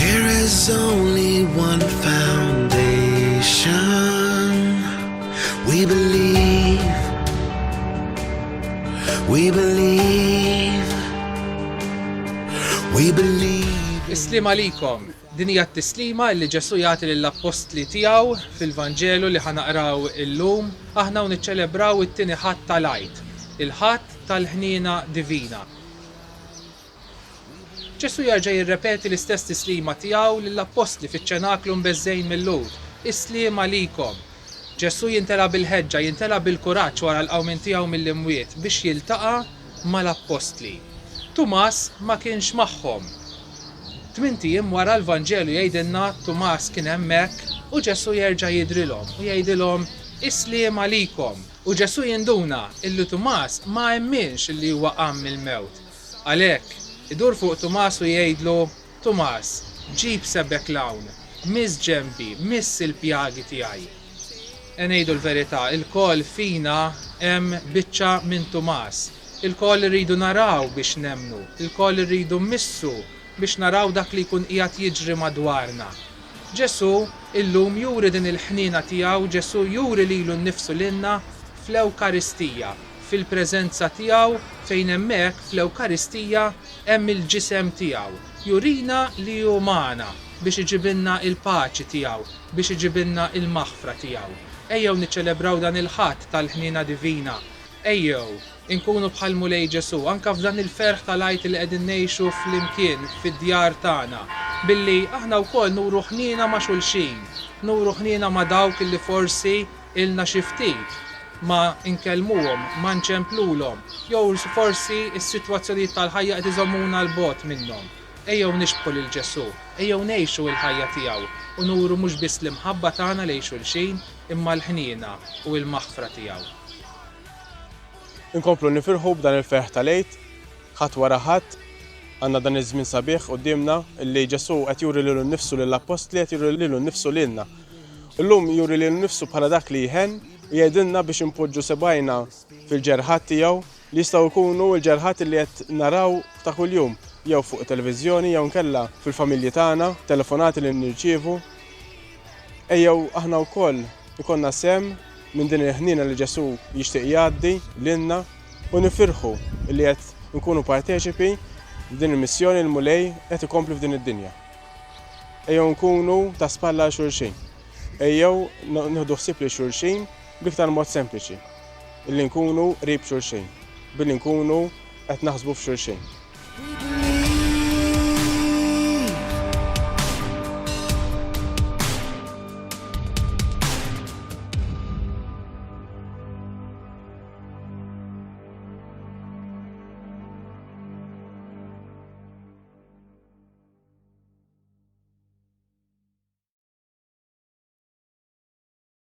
There is only one foundation we believe we believe we believe Islim għalikom Din hija t-tislima li Ġesu jagħti lill-appostli tiegħu fil-Vanġelu li ħanaqraw illum aħna u niċċelebraw it-tieni ħadd tal-għid, il-ħadd tal-ħniena divina. Ġesù jerġa' jirrepeti l-istess tislima tiegħu lill-appostli fiċ-ċenaklu mbeżżgħin mil-Lhud, Is-sliem għalikom! Ġesù jimtela bil-ħeġġa, jimtela bil-kuraġġ wara l-qawmien tiegħu mill-imwiet biex jiltaqa' mal-appostli. Tumas ma kienx magħhom. Tmint ijiem wara l-Vanġelu jgħidilna Tumas kien hemmhekk u Ġesù jerġa' jidhrilhom u jgħidilhom, Is-sliem għalikom! U Ġesù jinduna illi Tumas ma emminx illi huwa qam mill-mewt. Għalhekk, idur fuq Tumas u jgħidlu, Tumas, ġib sebgħek 'l hawn, miss ġenbi, miss il-pjagi tiegħi. E ngħidu l-verità, ilkoll fina hemm biċċa minn Tumas. Ilkoll irridu naraw biex nemmnu, ilkoll irridu mmissu biex naraw dak li jkun qiegħed jiġri madwarna. Ġesù illum juri din il-ħniena tiegħu, Ġesù juri lilu nnifsu lilna fl-Ewkaristija, fil-preżenza tiegħu fejn hemmhekk fl-Ewkaristija hemm il-ġisem tiegħu. Jurina li hu magħna biex iġibilna l-paċi tiegħu, biex iġibilna l-maħfra tiegħu. Ejjew niċċelebraw dan il-Ħadd tal-ħniena divina Ejjew inkunu bħall-Mulej Ġesù anke f'dan il-ferħ tal-Għid li qegħdin ngħixu flimkien fid-djar tagħna, billi aħna wkoll nuru ħniena ma' xulxin, nuru ħniena ma' dawk li forsi ilna xi ftit ma nkellmuhom, ma nċemplulhom, jew forsi s-sitwazzjonijiet tal-ħajja qed iżommuna 'l bogħod minnhom. Ejjew nixbħu lil Ġesù, ejjew ngħixu l-ħajja tiegħu u nuru mhux biss l-imħabba tagħna lejn xulxin, imma l-ħniena u l-maħfra tiegħu. Inkomplu nifirħu b'dan il-ferħ tal-Għid, ħadd wara ħadd, għandna dan iż-żmien sabiħ quddiemna li Ġesù qed juri lilu nnifsu lill-appostli, qed juri lilu nnifsu lilna. U llum juri lilu nnifsu bħala dak li jħenn u jgħidilna biex inpoġġu sebgħajna fil-ġerħat tiegħu li jistgħu jkunu l-ġerħat li qed naraw ta' kuljum, jew fuq it-televiżjoni jew inkella fil-familji tagħna, telefonati li nirċievu. Ejjew aħna wkoll ikollna sehem minn din il-ħniena li Ġesù jixtieq jgħaddi lilna u nifirħu li qed inkunu parteċipi f'din il-missjoni li l-Mulej qed ikompli f'din id-dinja. Ejjew nkunu ta' spalla għal xulxin. Ejjew nieħdu ħsieb lil xulxin Bl-iktar mod sempliċi, illi nkunu qrib xulxin, billi nkunu qed naħsbu f'xulxin.